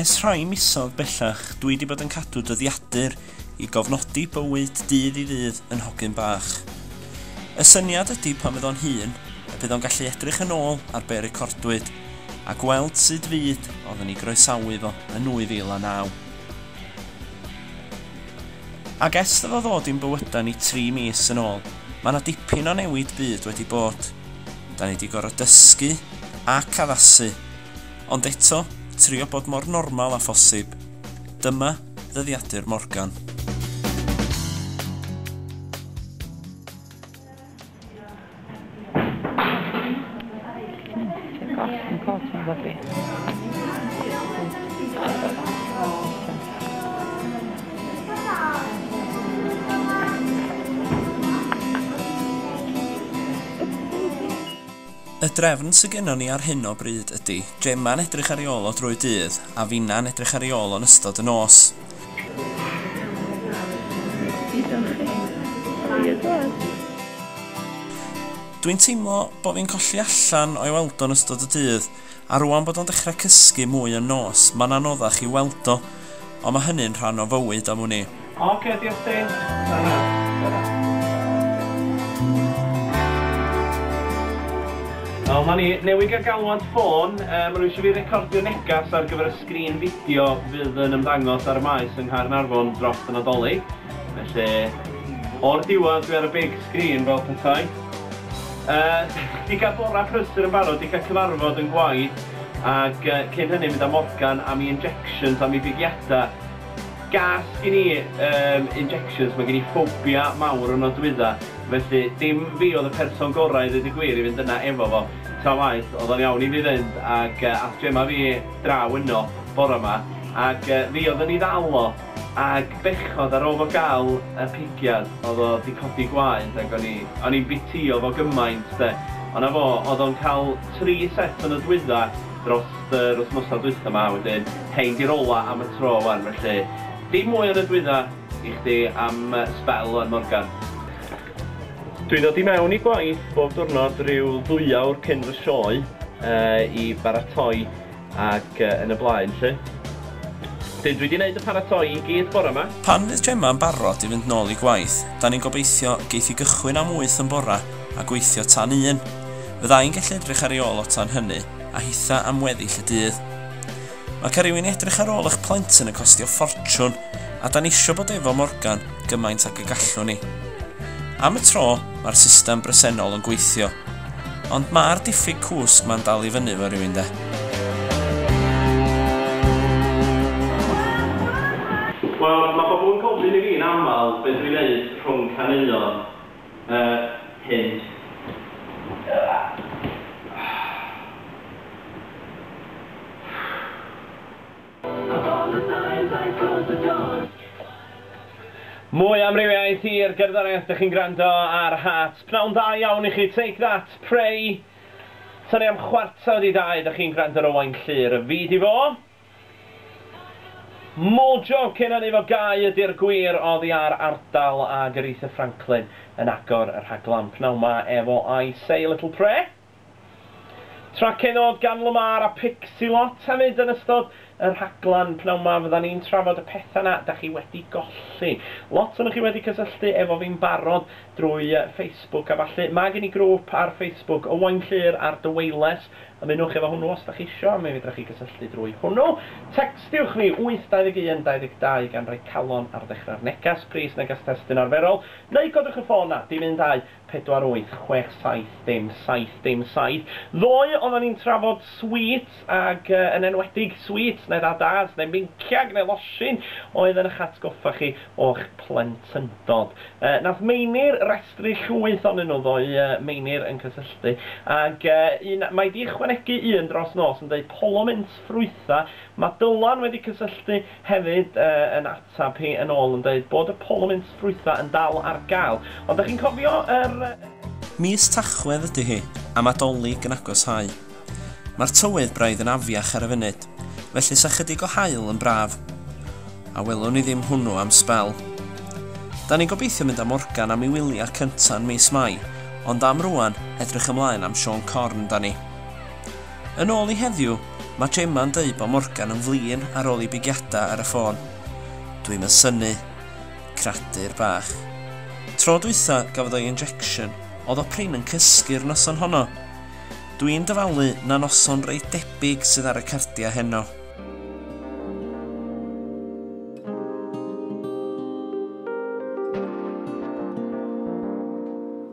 Ers rhai misoedd bellach dwi 'di bod yn cadw dyddiadur i gofnodi bywyd dydd i ddydd yn hogyn bach. Y syniad ydi pan fydd o'n hŷn, y bydd o'n gallu edrych yn ôl ar be' recordwyd, a gweld sud fyd oedden ni groesawu fo yn 2009. Ac ers iddo fo ddod i'n bywyda ni tri mis yn ôl, ma' 'na dipyn o newid byd wedi bod. Da ni 'di gor'o' dysgu ac addasu. Ond eto, trio bod mor normal â phosib. Dyma ddyddiadur Morgan. Y drefn sy gynnon ni ar hyn o bryd ydi, Gemma'n edrych ar ei ôl o drwy'r dydd, a finna'n edrych ar ei ôl o'n ystod y nos. Dwi'n teimlo bo fi'n colli allan o'i weld o'n ystod y dydd, A rŵan bod o'n dechrau cysgu mwy yn nos, mae'n anoddach i'w weld o. Ond mae hynny'n rhan o fywyd am wn i. Oce, diolch chdi. Tara. Tara. Wel, 'ma ni. Newydd gael galwad ffôn. Maen nhw eisiau fi recordio neges ar gyfer y sgrin fideo fydd yn ymddangos ar y Maes yng Nghaernarfon dros y Nadolig. Felly, o'r diwedd, dwi ar y big screen fel petai. Yy, 'di cael bora prysur yn barod, 'di cael cyfarfod yn gwaith, ac yy cyn hynny mynd â Morgan am 'i injections, am 'i bigiadau. Gas gin i yym injections, mae gen i ffobia mawr o nodwydda, felly dim fi oedd y person gorau i ddeud y gwir i fynd yna efo fo, tra waeth oedd o'n iawn i fi fynd ac yy ath Gemma fi draw yno bora 'ma ac yy fi oedd yn 'i ddal o. Ag bechod ar ôl fo gal y pigiad odd o di codi gwaed ag o'n i o'n i'n bitio fo gymaint de ond na fo odd o'n cal tri set o nodwydda drost yr wthnosa dwytha ma wedyn rhein di'r ola am y tro wan felly dim mwy o nodwydda i chdi am sbel wan Morgan. Dwi'n dod i mewn i gwaith bob diwrnod ryw ddwy awr cyn fy sioe i baratoi ac yn y blaen 'lly. Wedyn dwi 'di neud y paratoi i gyd bore 'ma. Pan fydd Gemma yn barod i fynd nôl i gwaith, 'dan ni'n gobeithio geith hi gychwyn am wyth yn bora a gweithio tan un. Fydda i'n gallu edrych ar ei ôl o tan hynny a hitha am weddill y dydd. Mae ca' rywun i edrych ar ôl eich plentyn yn costio ffortiwn. a da ni isio bod efo Morgan gymaint ag y gallwn ni. Am y tro, mae'r system bresennol yn gweithio, ond mae'r diffyg cwsg ma'n dal i fyny fo rywun de. Wel, mae pobl yn gofyn i fi yn aml be dwi'n neud rhwng caneuon y hyn Mwy o amrywiaeth i'r gerddoriaeth dych chi'n gwrando ar Heart. Pnawn dda iawn i chi, Take That, Pray. Tan i am chwarter wedi dau dych chi'n gwrando ar Owain Llŷr y fyd i fo. Mojo cyn hynny fo Gau ydy'r gwir oddi ar ardal ag Aretha Franklin yn agor y rhaglan pnawn ma efo I Say a Little Prayer. Trac hynod gan Lamar a Pixelot hefyd yn ystod y rhaglen pnawn 'ma fyddan ni'n trafod y petha 'na 'dach chi wedi golli. Lot onoch chi wedi cysylltu efo fi'n barod drwy Facebook a ballu. Ma' gen i grŵp ar Facebook, Owain Llŷr a'r Dyweiles. Ymunwch efo hwnnw os 'dach chi isio, mi fedrwch chi gysylltu drwy hwnnw. Tecstiwch fi 821 22 gan roi calon ar ddechrau'r neges, pris neges testun arferol, neu codwch y ffôn 'na, dim un dau, pedwar wyth chwech saith dim saith dim saith. Ddoe oeddan ni'n trafod sweets ac yn enwedig sweets neu ddadas neu meinciag neu losin oedd yn ych atgoffa chi o'ch plentyndod. Nath Meinir restru llwyth onyn nhw ddoe, Meinir yn cysylltu, ac un, mae 'di ychwanegu un dros nos yn deud Polo Mints Ffrwytha, ma' Dylan wedi cysylltu, Hefyd, yn ateb hi yn ôl yn deud bod y polwmynt ffrwytha yn dal ar gael. Ond dych chi'n cofio yr. Mis Tachwedd ydy hi, am Adolyg yn agosáu. Mae'r tywydd braidd yn afiach ar y funud, felly 'sa chydig o haul yn braf. A welwn ni ddim hwnnw am sbel. Da ni'n gobeithio mynd â Morgan am i wyliau cynta yn mis Mai, ond am rŵan, edrych ymlaen am Siôn Corn da ni. Yn ôl i heddiw, mae Gemma yn deud bod Morgan yn flin ar ôl i bigiadau ar y ffôn. Dwi'm yn synnu. Cradur bach. Tro dwytha gafodd o'i injection, oedd o prin yn cysgu'r noson honno. Dwi'n dyfalu na noson reit debyg sydd ar y cardiau heno.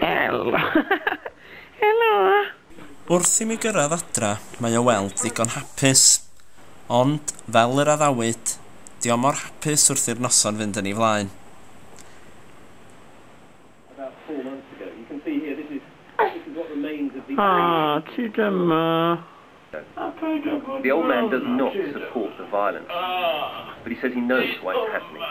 Helo! Helo! Wrth i mi gyrraedd adra, mae o weld ddigon hapus. Ond, fel yr addawyd, 'di o mor hapus wrth i'r noson fynd yn ei flaen. A ti dyma! The old man does not support the violence, but he says he knows why it's happening.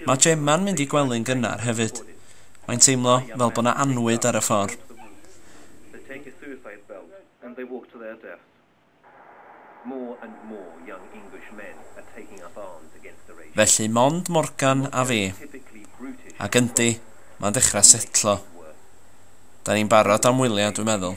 Mae Gemma'n mynd i gwely'n gynnar hefyd. Mae'n teimlo fel bod 'na annwyd ar y ffordd. Felly mond Morgan a fi. Ac yndi, mae'n dechrau setlo. Da ni'n barod am wyliau, dwi'n meddwl.